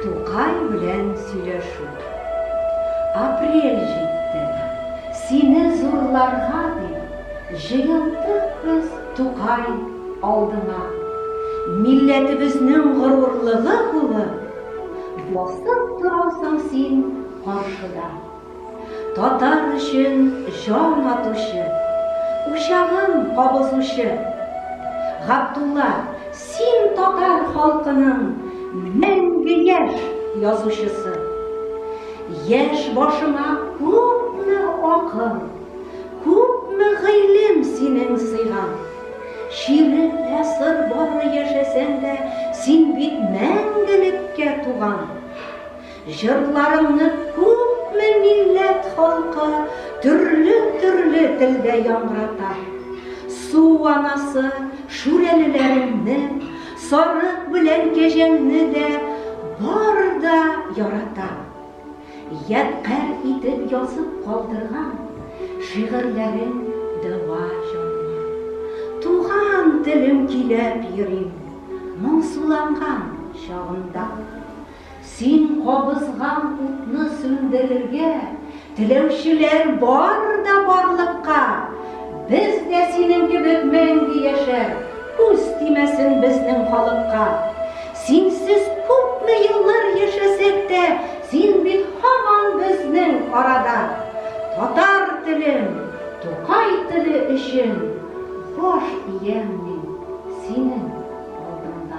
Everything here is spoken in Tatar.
Тукай белән сөйләшү. Апрель җитте. Сине зурларга дип җыелдык без, Тукай, алдыңа. Милләтебезнең горурлыгы булып, басып торасың син каршыда. Татар өчен җан атучы, Учагын кабызучы! Габдулла, син татар халкының мәңге яшь язучысы! Яшь башыңа күпме акыл, күпме гыйлем синең сыйган! Чирек гасыр бары яшәсәң дә, син бит мәңгелеккә туган! Җырларыңны күпме милләт халкы төрле-төрле телдә яңгырата. Су анасы Шүрәлеләреңне, Сарык белән Кәҗәңне дә бары да ярата. Ядкарь итеп язып калдырган шигырьләрең дәва җанга. Туган телем көйләп йөрим моңсуланган чагымда. Син кабызган утны сүндерергә теләүчеләр бар да барлыкка! Без дә синең кебек мәңге яшәр, күз тимәсен безнең халыкка! Синсез күпме еллар яшәсәк тә, син бит һаман безнең арада! Татар телем, Тукай теле өчен баш иям мин синең алдында!